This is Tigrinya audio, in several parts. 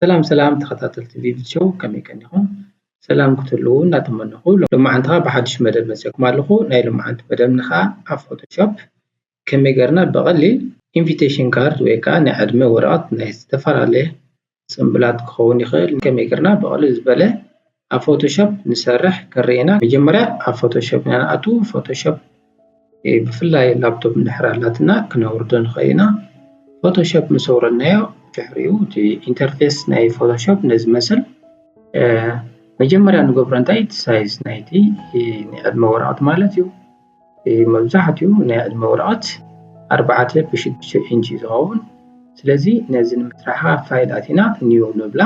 ሰላም ሰላም ተኸታተልቲ ቪቪት ሾው ከመይ ቀኒኹም ሰላም ክትህልዉ እናተመነኹ ሎማዓንቲ ከዓ ብሓዱሽ መደብ መፂኦኩም ኣለኹ ናይ ሎማዓንቲ መደብና ከዓ ኣብ ፎቶሾፕ ከመይ ጌርና ብቐሊል ኢንቪቴሽን ካርድ ወይ ከኣ ናይ ዕድመ ወረቐት ናይ ዝተፈላለየ ጽምብላት ክኸውን ይኽእል ከመይ ጌርና ብቐልል ዝበለ ኣብ ፎቶሾፕ ንሰርሕ ክንርኢ ኢና። መጀመርያ ኣብ ፎቶሾፕ ኢና ንኣትዉ። ፎቶሾፕ ብፍላይ ላፕቶፕ እንድሕር ኣላትና ክነውርዶ ንኽእል ኢና። ፎቶሾፕ ምስ ኣውረድናዮ ድሕሪኡ እቲ ኢንተርፌስ ናይ ፎቶሾፕ ነዚ መስል መጀመርያ ንገብሮ እንታይ እቲ ሳይዝ ናይቲ ናይ ዕድመ ወረቐት ማለት እዩ። መብዛሕትኡ ናይ ዕድመ ወረቐት ኣርባዕተ ብ ሽዱሽተ ኢንች እዩ ዝኸውን ስለዚ ነዚ ንምስራሓ ፋይል ኣቲና ኒው ንብላ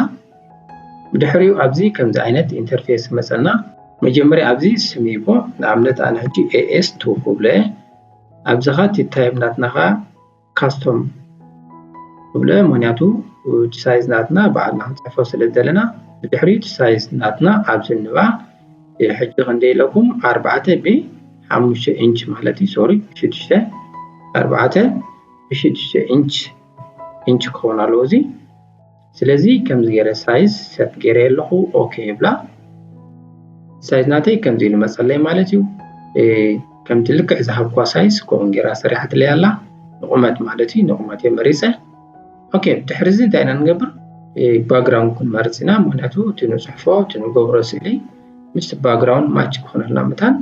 ብድሕሪኡ ኣብዚ ከምዚ ዓይነት ኢንተርፌስ መፀና መጀመርያ ኣብዚ ስም ይቦ ንኣብነት ኣነ ሕጂ ኤኤስ ቱ ክብሎ እየ ኣብዚ ኸዓ ቲታይም ናትና ኸዓ ካስቶም ክብለ ምክንያቱ እቲ ሳይዝ ናትና ባዕልና ክንፅሕፎ ስለ ዘለና ብድሕሪ እቲ ሳይዝ ናትና ኣብዚ ንባ ሕጂ ክንደይ ኢለኩም ኣርባዕተ ብሓሙሽተ ኢንች ማለት እዩ ሶሪ ሽዱሽተ ኣርባዕተ ብሽዱሽተ ኢንች ኢንች ክኸውን ኣለዎ እዚ ስለዚ ከምዚ ገይረ ሳይዝ ሰት ገይረዮ ኣለኹ ኦኬ ይብላ ሳይዝ ናተይ ከምዚ ኢሉ መፀለይ ማለት እዩ ከምቲ ልክዕ ዝሃብኳ ሳይዝ ከምኡ ገይራ ሰሪሓትለይ ኣላ ንቑመት ማለት እዩ ንቑመት እየ መሪፀ ኦኬ ድሕሪ እዚ እንታይ ኢና ንገብር ባግራውንድ ክንመርፅ ኢና ምክንያቱ እቲ ንፅሕፎ እቲ ንገብሮ ስእሊ ምስቲ ባግራውንድ ማች ክኾነልና መታን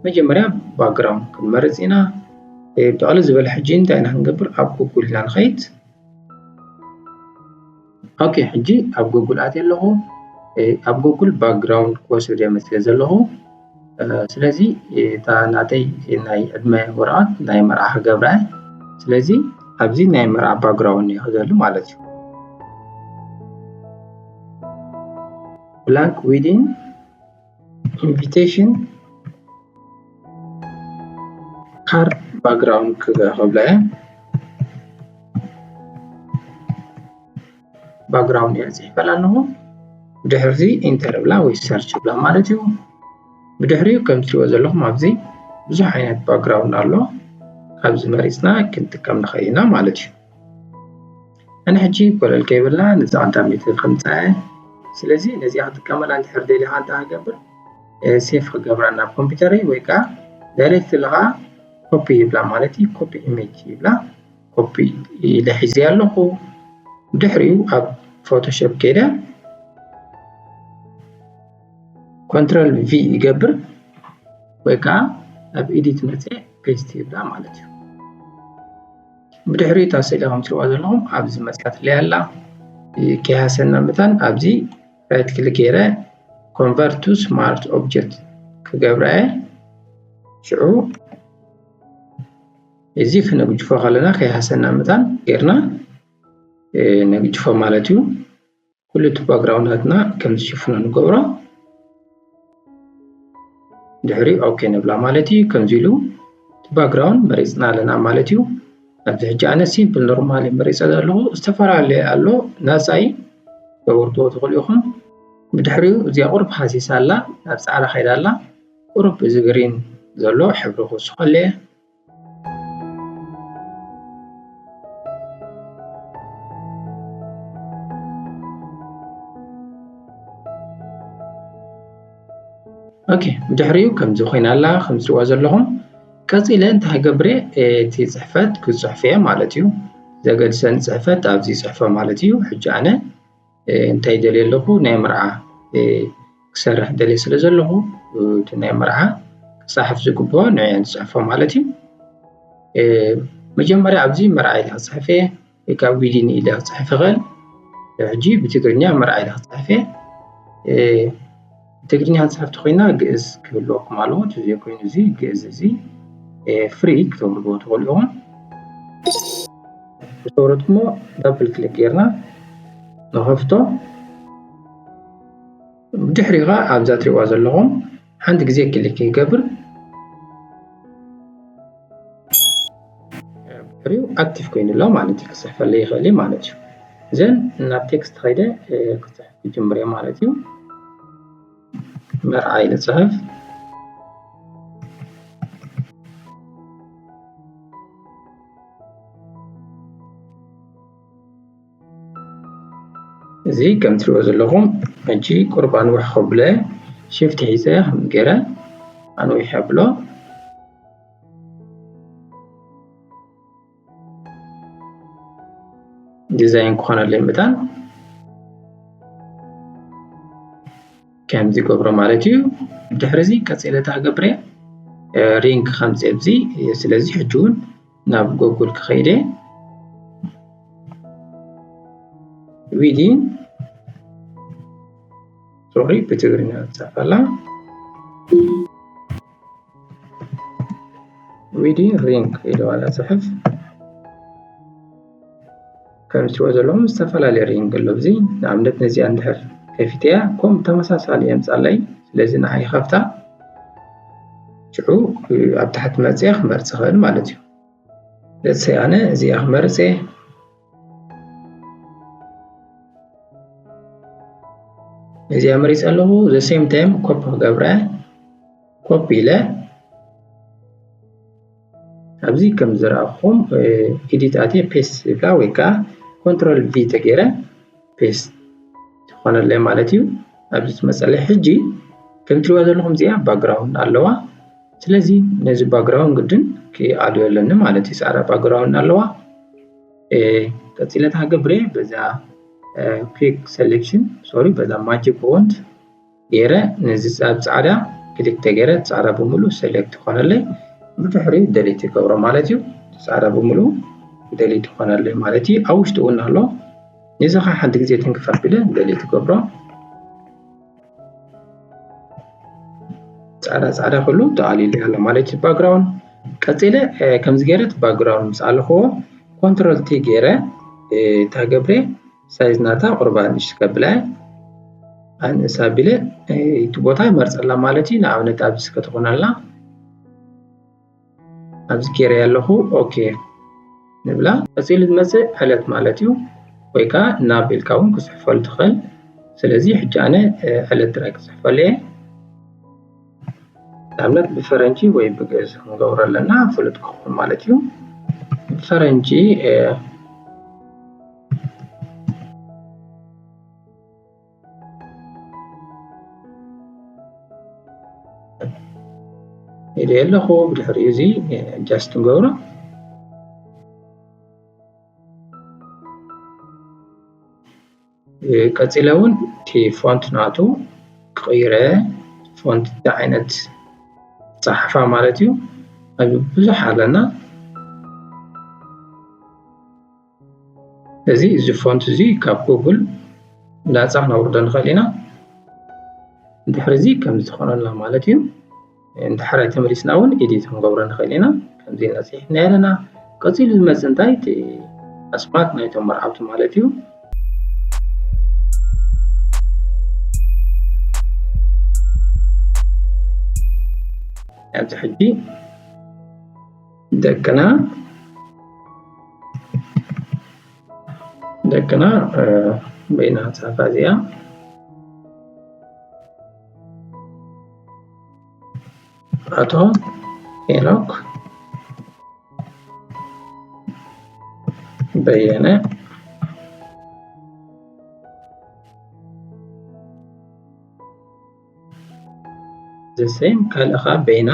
መጀመርያ ባግራውንድ ክንመርፅ ኢና ብዕሊ ዝበለ ሕጂ እንታይ ኢና ክንገብር ኣብ ጉጉል ኢና ንኸይድ ኦኬ ሕጂ ኣብ ጎጉል ኣትየ ኣለኹ ኣብ ጎጉል ባክግራውንድ ክወስድ እየ መስለ ዘለኹ ስለዚ እታ ናተይ ናይ ዕድመ ወረቐት ናይ መርዓ ክገብራ እየ ስለዚ ኣብዚ ናይ መርዓ ባክግራውንድ እየ ክዘሉ ማለት እዩ ብላንክ ዊዲን ኢንቪቴሽን ካርድ ባክግራውንድ ክብላ እያ ባክግራውንድ እያ ፅሒፈላ ኣለኹ ብድሕርዚ ኢንተር ብላ ወይ ሰርች ብላ ማለት እዩ ብድሕሪኡ ከም ትሪእዎ ዘለኹም ኣብዚ ብዙሕ ዓይነት ባክግራውንድ ኣሎ ካብዚ መሪፅና ክንጥቀም ንኽእል ኢና ማለት እዩ ኣነ ሕጂ ኮለል ከይበልና ነዛ ኣዳሚት ከምጽኣ ስለዚ ነዚኣ ክጥቀመላ እንድሕር ደሊኻ እንታይ ክገብር ሴፍ ክገብራ ናብ ኮምፒውተረይ ወይ ከዓ ዳይሬክት ለኻ ኮፒ ይብላ ማለት እዩ ኮፒ ኢሜጅ ይብላ ኮፒ ኢለ ሒዘ ኣለኹ ድሕሪኡ ኣብ ፎቶሾፕ ከይደ ኮንትሮል ቪ ይገብር ወይ ከዓ ኣብ ኤዲት መፅእ ፔስት ይብላ ማለት እዩ ብድሕሪኡ እታ ስእሊ ከም ትሪእዋ ዘለኹም ኣብዚ መጺኣትለይ ኣላ ከይሃሰና መታን ኣብዚ ራይት ክሊክ ገይረ ኮንቨርት ቱ ስማርት ኦብጀክት ክገብራ እየ ሽዑ እዚ ክነግጅፎ ከለና ከይሃሰና መታን ጌርና ነግጅፎ ማለት እዩ ኩሉ እቲ ባግራውንዳትና ከም ዝሽፍኖ ንገብሮ ድሕሪ ኦኬ ንብላ ማለት እዩ ከምዚ ኢሉ እቲ ባግራውንድ መሪፅና ኣለና ማለት እዩ ኣብዚ ሕጂ ኣነ ሲምፕል ኖርማል መሪፀ ዘለኹ ዝተፈላለየ ኣሎ ናፃይ ተወርትዎ ትኽእሉ ኢኹም ብድሕሪኡ እዚኣ ቁርብ ሃሲሳ ኣላ ናብ ፃዕዳ ከይዳ ኣላ ቁርብ እዚ ግሪን ዘሎ ሕብሪ ክውስኸለየ ኦኬ ብድሕሪኡ ከምዚ ኮይና ኣላ ከም ትሪእዋ ዘለኹም ቀፂለ እንታይ ክገብር እየ እቲ ፅሕፈት ክፅሕፍ እየ ማለት እዩ ዘገድሰኒ ፅሕፈት ኣብዚ ፅሕፈ ማለት እዩ ሕጂ ኣነ እንታይ ደልየ ኣለኹ ናይ መርዓ ክሰርሕ ደልየ ስለ ዘለኹ እቲ ናይ መርዓ ክፀሓፍ ዝግብኦ ንዕየ ዝፅሕፎ ማለት እዩ መጀመርያ ኣብዚ መርዓ ኢለ ክፅሕፍ እየ ወይ ከዓ ዊዲን ኢለ ክፅሕፍ ይኽእል ሕጂ ብትግርኛ መርዓ ኢለ ክፅሕፍ እየ ትግርኛ ጸሓፍቲ ኮይና ግእዝ ክህልወኩም ኣለዎ እቲ ዘይኮይኑ እዚ ግእዝ እዚ ፍሪ ክተውርድዎ ትኽእሉ ኢኹም ዝተወረድኩሞ ዳብል ክሊክ ጌርና ንኸፍቶ ድሕሪ ኸዓ ኣብዛ ትሪእዋ ዘለኹም ሓንቲ ግዜ ክሊክ ይገብር ብድሕሪኡ ኣክቲቭ ኮይኑ ኣሎ ማለት እዩ ክፅሕፈለይ ይኽእል እዩ ማለት እዩ ዘን ናብ ቴክስት ከይደ ክፅሕፍ ይጅምር እየ ማለት እዩ መርዓ ኢለ ፅሕፍ እዚ ከም ትሪኦ ዘለኹም ሕጂ ቁርብ ኣንውሕ ከብሎ ሽፍት ሒዘ ከም ገይረ ኣንዊሕ ኣብሎ ዲዛይን ክኾነለይ መጠን ከምዚ ገብሮ ማለት እዩ ድሕሪ እዚ ቀፂለ እንታይ ገብረ ሪንግ ከምፂ ኣብዚ ስለዚ ሕጂ እውን ናብ ጎጉል ክኸይደ ዊዲን ሶሪ ብትግርኛ ዝፃፈላ ዊዲ ሪንግ ኢሉ ዋላ ፅሑፍ ከም ትሪኦ ዘለኹም ዝተፈላለዩ ሪንግ ኣሎ እዚ ንኣብነት ነዚኣ እንድሕር ከፊተያ ከምኡ ተመሳሳሊ የምፃለይ ስለዚ ንዓ ይኸፍታ ሽዑ ኣብ ታሕቲ መፅያ ክመርፅ ይኽእል ማለት እዩ ለሰይ ኣነ እዚኣ ክመርፅ እየ እዚ ኣመሪፀ ኣለኹ ዘ ሴም ታይም ኮፒ ክገብረ ኮፒ ኢለ ኣብዚ ከም ዝረኣኹም ኤዲት ኣትየ ፔስት ዝብላ ወይ ከዓ ኮንትሮል ቪ ተገይረ ፔስት ትኾነለይ ማለት እዩ ኣብዚ ትመፀለይ ሕጂ ከም ትሪእዋ ዘለኹም እዚኣ ባግራውንድ ኣለዋ ስለዚ ነዚ ባግራውንድ ግድን ክኣልዮ ኣለኒ ማለት እዩ ፃዕዳ ባግራውንድ ኣለዋ ቀፂለ ታገብረ በዛ ኩክ ሴሌክሽን ሶሪ በዛ ማጂክ ፎንት ገይረ ነዚ ኣብ ፃዕዳ ክልተ ገይረ ፃዕዳ ብምሉ ሰሌክት ይኾነለይ ብድሕሪኡ ደሊት ይገብሮ ማለት እዩ ፃዕዳ ብምሉ ደሊት ይኾነለይ ማለት እዩ ኣብ ውሽጡ እውን ኣሎ ነዚ ከዓ ሓንቲ ግዜ ትንክፍ ኣቢለ ደሊት ይገብሮ ፃዕዳ ፃዕዳ ኩሉ ተኣሊሉ ኣሎ ማለት እዩ ባክግራውንድ ቀፂለ ከምዚ ገይረ እቲ ባክግራውንድ ምስ ኣለኽዎ ኮንትሮል ቲ ገይረ እንታይ ገብረ ሳይዝ ናታ ቁርባ ንእሽ ከብላ ኣንእስ ኣቢለ እቲ ቦታ ይመርፀላ ማለት እዩ ንኣብነት ኣብዚ ከተኾን ኣላ ኣብዚ ጌረ ኣለኹ ኦኬ ንብላ ቀፂሉ ዝመፅእ ዕለት ማለት እዩ ወይ ከዓ ናብ ኢልካ እውን ክፅሕፈሉ ትኽእል ስለዚ ሕጂ ኣነ ዕለት ጥራይ ክፅሕፈሉ እየ ንኣብነት ብፈረንጂ ወይ ብግእዝ ክንገብሮ ኣለና ፍሉጥ ክኸውን ማለት እዩ ብፈረንጂ ኢለ ኣለኹ ብድሕሪኡ እዚ ጃስት ንገብሮ ቀፂለ እውን እቲ ፎንት ናቱ ክቕይረ ፎንት እንታይ ዓይነት ፀሓፋ ማለት እዩ ኣብ ብዙሕ ኣለና እዚ እዚ ፎንት እዚ ካብ ጉግል ላፃ ክነውርዶ ንኽእል ኢና ድሕሪ እዚ ከምዚ ትኾነልና ማለት እዩ ንዳሕራይ ተመሊስና እውን ኤዲት ክንገብሮ ንኽእል ኢና ከምዚ ኢና ፅሒፍና ኣለና ቀፂሉ ዝመፅእ እንታይ እቲ ኣስማት ናይቶም መርዓውቲ ማለት እዩ ኣብዚ ሕጂ ደቅና ደቅና በይና ፀሓፋ እዚኣ ኣቶ ሄኖክ በየነ ዘሰይም ካልእ ከዓ በይና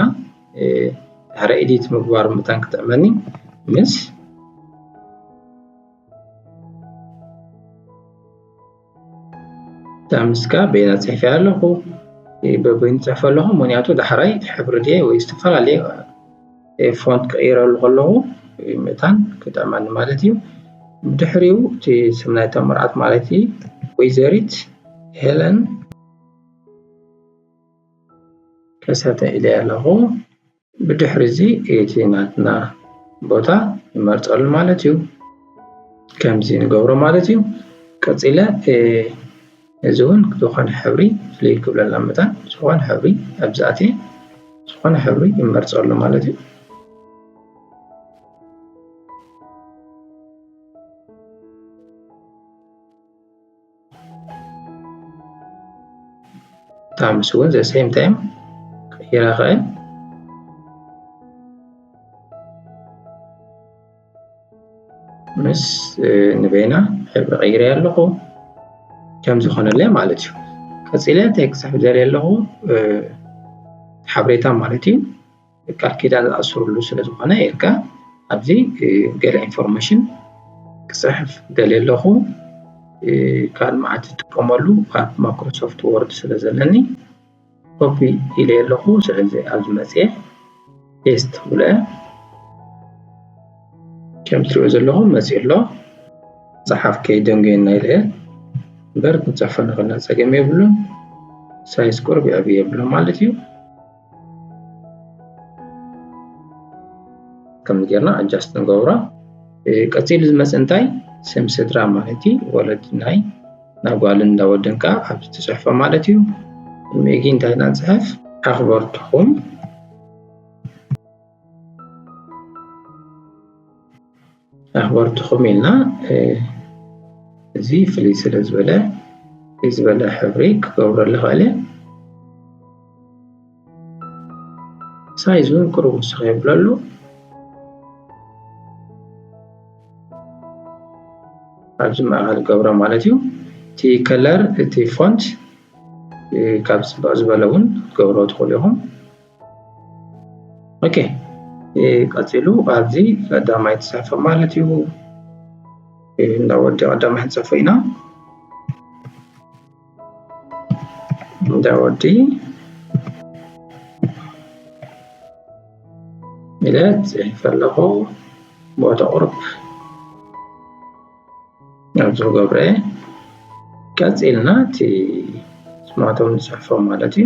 ድሕሪ ኤዲት ምግባር ምታን ክጥዕመኒ ምስ ዳምስካ በይና ጽሕፊ ኣለኹ በበይኑ ጽሕፈ ኣለኹ ምክንያቱ ዳሕራይ ሕብሪ ድየ ወይ ዝተፈላለየ ፎንት ቀይረሉ ከለኹ ምእታን ክጠዕመኒ ማለት እዩ ብድሕሪኡ እቲ ስም ናይ ተመርዓት ማለት እዩ ወይዘሪት ሄለን ከሰተ ኢለ ኣለኹ ብድሕሪ እዚ እቲ ናትና ቦታ ንመርጸሉ ማለት እዩ። ከምዚ ንገብሮ ማለት እዩ። ቀጺለ እዚ እውን ዝኾነ ሕብሪ ፍልይ ክብለልና መጠን ዝኾነ ሕብሪ ኣብዚ ኣትየ ዝኾነ ሕብሪ ይመርጸሉ ማለት እዩ። ኣምስ እውን ዘ ሴም ታይም ቀይራ ኸእል ምስ ንበይና ሕብሪ ቀይረ ኣለኹ ከም ዝኾነለይ ማለት እዩ ቀፂለ እንታይ ክፅሕፍ ዘርኢ ኣለኹ ሓበሬታ ማለት እዩ ቃል ኪዳን ዝኣስርሉ ስለ ዝኾነ ኢልካ ኣብዚ ገለ ኢንፎርሜሽን ክፅሕፍ ደልየ ኣለኹ ካልእ መዓት ዝጥቀመሉ ካብ ማይክሮሶፍት ወርድ ስለ ዘለኒ ኮፒ ኢለ ኣለኹ ስለዚ ኣብዚ መፅየ ፔስት ብለ ከም ትሪኦ ዘለኹም መፅኡ ኣሎ ፀሓፍ ከይደንገየና ኢለ እምበር ክንፅሕፈ ንኽእልና ፀገም የብሉን ሳይዝ ቅርብ ይዕብ የብሎ ማለት እዩ ከምዚ ጌርና ኣጃስት ንገብሮ ቀፂሉ ዝመፅ እንታይ ስም ስድራ ማለት እዩ ወለዲ ናይ ናይ ጓልን እንዳ ወድን ከዓ ኣብዚ ትፅሕፎ ማለት እዩ ሜጊ እንታይ ኢና ንፅሕፍ ኣኽበርትኹም ኣኽበርትኹም ኢልና እዚ ፍልይ ስለ ዝበለ ፍልይ ዝበለ ሕብሪ ክገብረሉ ኽእል ሳይዙ ቅሩብ ንሱ ከይብለሉ ኣብዚ ማእኸል ገብሮ ማለት እዩ እቲ ከለር እቲ ፎንት ካብ ፅብቅ ዝበለ እውን ክትገብሮ ትኽእሉ ኢኹም ኦኬ ቀፂሉ ኣብዚ ቀዳማይ ተሳፈ ማለት እዩ እንዳ ወዲ ቀዳማይ ክንፅፎ ኢና እንዳ ወዲ ኢለ ፅሒፈ ኣለኹ ቦታ ቁርብ ኣብዚ ክገብረ ቀፂልና እቲ ስማቶም ንፅሕፎ ማለት እዩ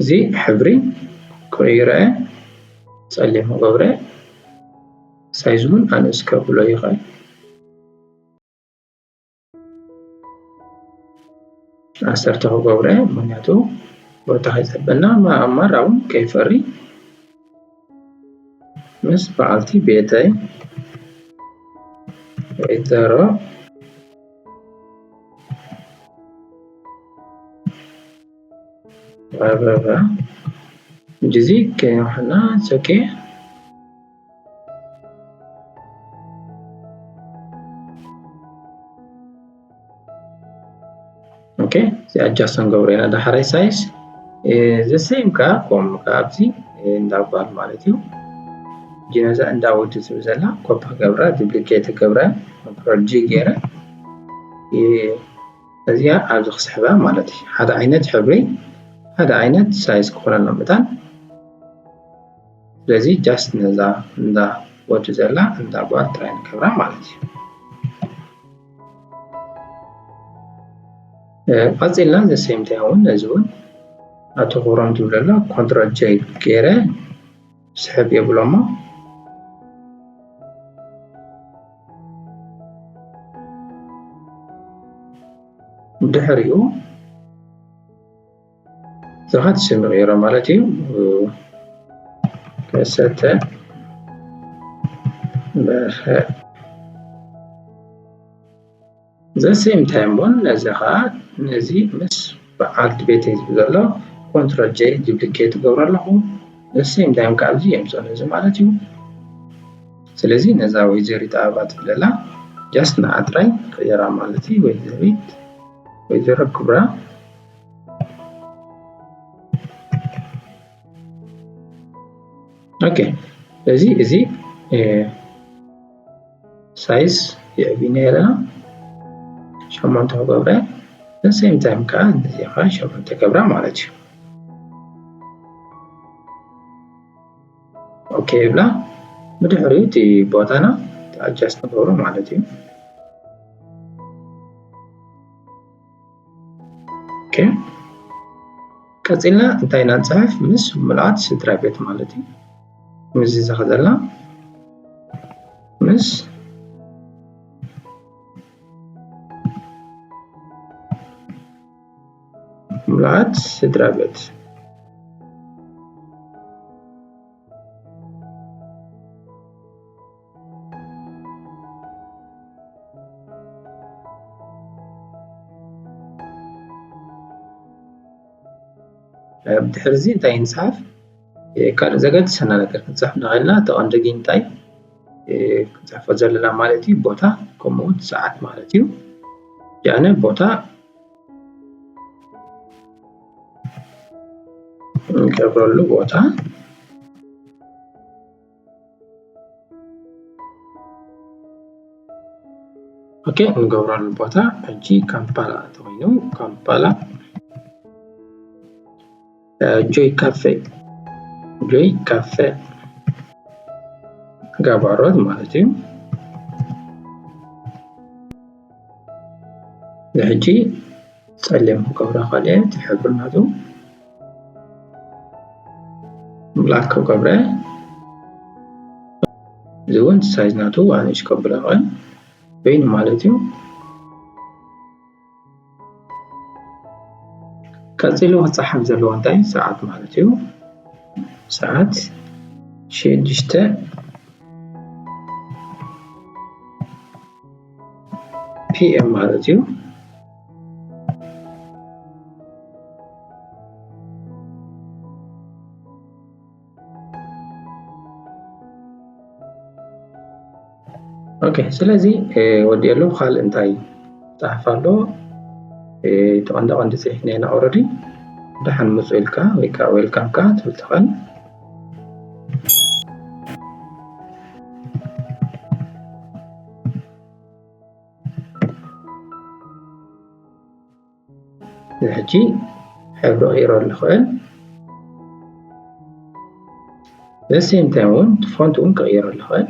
እዚ ሕብሪ ቀይረ ፀሊም ክገብረ ሳይዝ እውን ኣነስ ከብሎ ይክእል ዓሰርተ ክገብሮ ምክንያቱ ቦታ ከይፀበና ኣእማር እውን ከይፈሪ። ምስ በዓልቲ ቤተይ ወይዘሮ ኣበባ ጊዜ ከይኖሕና ሰቂ ኦኬ እዚ ኣጃስት ንገብሮ ኢና ዳሕራይ ሳይዝ ዘሰይም ከዓ ኮም ከዓ ኣብዚ እንዳ ጓል ማለት እዩ ጅነዛ እንዳ ወዲ ዝብ ዘላ ኮፒ ገብራ ዱፕሊኬት ገብረ ፕሮጂ ገይረ እዚኣ ኣብዚ ክስሕባ ማለት እዩ ሓደ ዓይነት ሕብሪ ሓደ ዓይነት ሳይዝ ክኾነና መጣን ስለዚ ጃስት ነዛ እንዳ ወዲ ዘላ እንዳ ጓል ጥራይ ንገብራ ማለት እዩ ቀፂልና ዘሰምታይ እውን ነዚ እውን ኣቶ ክብሮም ዝብለሎ ኮንትሮል ጀይ ገይረ ስሕብ የብሎሞ ድሕሪኡ ብዙሓት ስም ይቕይሮም ማለት እዩ ከሰተ በርሀ ዘሴም ታይም እውን ነዚ ከዓ ነዚ ምስ በዓልቲ ቤት ህዝቢ ዘሎ ኮንትሮል ጀ ዱፕሊኬት ገብሮ ኣለኹ ዘሴም ታይም ከዓ ኣብዚ የምፅኦ ነዚ ማለት እዩ ስለዚ ነዛ ወይዘሪት ኣበባ ትብለላ ጃስት ንዓ ጥራይ ቀየራ ማለት እዩ ወይዘሪት ወይዘሮ ክብራ ኦኬ እዚ እዚ ሳይዝ የዕቢና ኣለና ሸሞንተ ክገብረ ንሴም ታይም ከዓ እንደዚ ከዓ ሸሞንተ ገብራ ማለት እዩ ኦኬ ይብላ ብድሕሪኡ እቲ ቦታና ኣጃስ ንገብሮ ማለት እዩ ቀፂልና እንታይ ኢና ንፅሕፍ ምስ ምልኣት ስድራ ቤት ማለት እዩ ምስዚ ዘኸዘላ ምስ ምልኣት ስድራ ቤት ድሕሪ እዚ እንታይ ንፅሓፍ ካልእ ዘገድሰና ነገር ክንፅሕፍ ንኽእልና እቲ ቀንዲ ግን እንታይ ክንፅሕፎ ዘለና ማለት እዩ ቦታ ከምኡ እውን ሰዓት ማለት እዩ ያነ ቦታ እንገብረሉ ቦታ ኦኬ እንገብረሉ ቦታ ሕጂ ካምፓላ እንተኮይኑ ካምፓላ ጆይ ካፌ ጆይ ካፌ ጋባሮት ማለት እዩ ንሕጂ ጸሊም ክገብራ ካልእ እቲ ሕብሪ ናቱ ላክ ከብረ እዚ እውን ሳይዝ ናቱ ኣንሽ ከብሎ ይኽእል በይኑ ማለት እዩ ቀፂሉ ክፀሓፍ ዘለዎ እንታይ ሰዓት ማለት እዩ ሰዓት ሽዱሽተ ፒኤም ማለት እዩ ኦኬ ስለዚ ወዲኤሉ ካልእ እንታይ ፃሕፍ ኣሎ እቲ ቀንዲ ቀንዲ ፅሒፍ ነና ኦረዲ ደሓን ምፁ ኢልካ ወይ ከዓ ዌልካም ከዓ ትብል ትኽእል ሕጂ ሕብሪ ቀይሮ ኣለኽዕን ዘሴም ታይም እውን ፎንት እውን ክቕይሮ ኣለኽዕን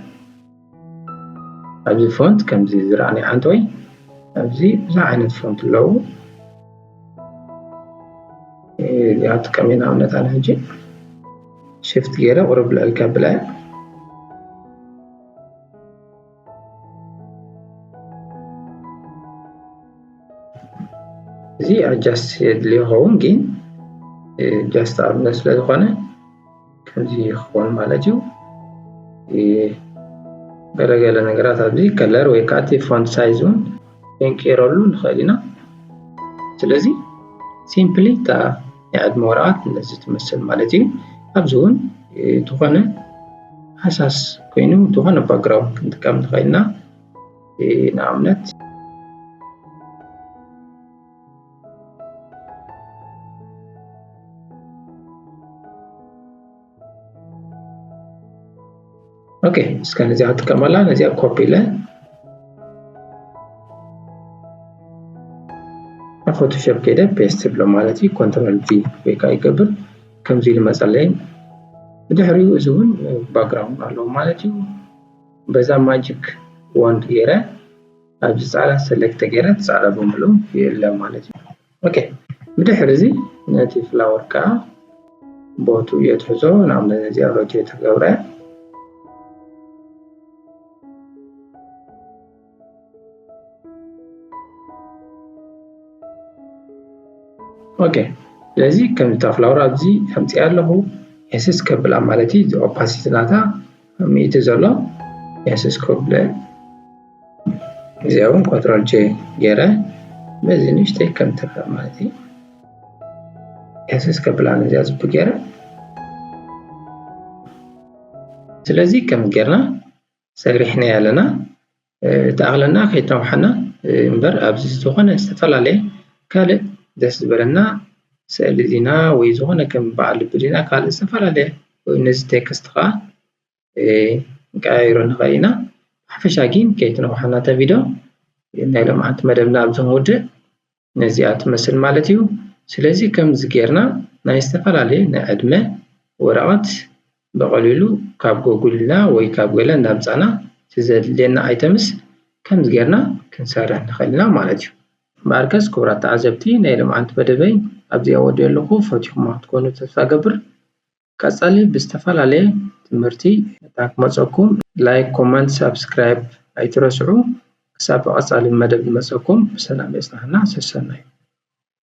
ኣብዚ ፎንት ከምዚ ዝረኣኒ ዓንተወይ ኣብዚ ብዙሕ ዓይነት ፎንት ኣለዉ እዚኣ ጥቀሚ ንኣብነት ኣነ ሕጂ ሽፍት ገይረ ቁርብ ልዕል ከብላ እየ እዚ ኣጃስት የድሊ ይኸውን ግን ጃስት ኣብነት ስለ ዝኾነ ከምዚ ይኸውን ማለት እዩ ገለገለ ነገራት ኣብዚ ከለር ወይ ከዓ እቲ ፎንት ሳይዝ እውን ክንቀይረሉ ንኽእል ኢና ስለዚ ሲምፕሊ እታ ናይ ዕድመ ወረቓት ነዚ ትመስል ማለት እዩ። ኣብዚ እውን ዝኾነ ሃሳስ ኮይኑ ዝኾነ ባክግራውንድ ክንጥቀም ንኽእል ኢና ንኣብነት ኦኬ እስከ ነዚኣ ክጥቀመላ ነዚኣ ኮፒ ኢለ ኣብ ፎቶሾፕ ከይደ ፔስት ብሎ ማለት እዩ ኮንትሮል ቪ ወይ ከዓ ይገብር ከምዚ ኢሉ መፀለይ ብድሕሪኡ እዚ እውን ባክግራውንድ ኣለዎ ማለት እዩ በዛ ማጂክ ወንድ ገይረ ኣብዚ ፃዕዳ ሰለክት ተገይረ ፃዕዳ ብምልኡ ይእለ ማለት እዩ ኦኬ ብድሕሪ እዚ ነቲ ፍላወር ከዓ ቦቱ የትሕዞ ናብ እዚኣ ሮቴት ገብረ ኦኬ ስለዚ ከምታ ፍላወር ኣብዚ ከምፂኣ ኣለኹ ኤስስ ከብላ ማለት እዩ ኦፓሲቲ ናታ ሚእቲ ዘሎ የስስ ኮብለ እዚኣ እውን ኮንትሮል ጄ ገይረ በዚ ንእሽተይ ከም ትርእ ማለት እዩ የስስ ከብላ ነዚኣ ዝቡ ገይረ ስለዚ ከም ጌርና ሰሪሕና ኣለና ትኣክለና ከይታውሓና እምበር ኣብዚ ዝኮነ ዝተፈላለየ ካልእ ደስ ዝበለና ስእሊ ዜና ወይ ዝኮነ ከም በዓል ልቢ ዜና ካልእ ዝተፈላለየ ነዚ ቴክስት ከዓ ክንቀያይሮ ንክእል ኢና ብሓፈሻ ግን ከይተናውሓና እታ ቪድዮ ናይ ሎምዓንቲ መደብና ኣብዚ ክንውድእ ነዚኣ ትመስል ማለት እዩ ስለዚ ከምዚ ጌርና ናይ ዝተፈላለየ ናይ ዕድመ ወረቀት ብቀሊሉ ካብ ጎጉል እና ወይ ካብ ገለ እንዳምጻና እቲ ዘድልየና ኣይተምስ ከምዚ ጌርና ክንሰርሕ ንክእል ኢና ማለት እዩ። እምበኣርከስ ክቡራት ተዓዘብቲ ናይ ሎምዓንቲ መደበይ ኣብዚኣ ወዲኤ ኣለኩ ፈቲኩማ ክትኮኑ ተስፋ እገብር ቀጻሊ ብዝተፈላለየ ትምህርቲ እታ ክመጸኩም ላይክ ኮመንት ሳብስክራይብ ኣይትረስዑ ክሳብ ብቀጻሊ መደብ ዝመጸኩም ብሰላም የጽናና ሰሰናዩ።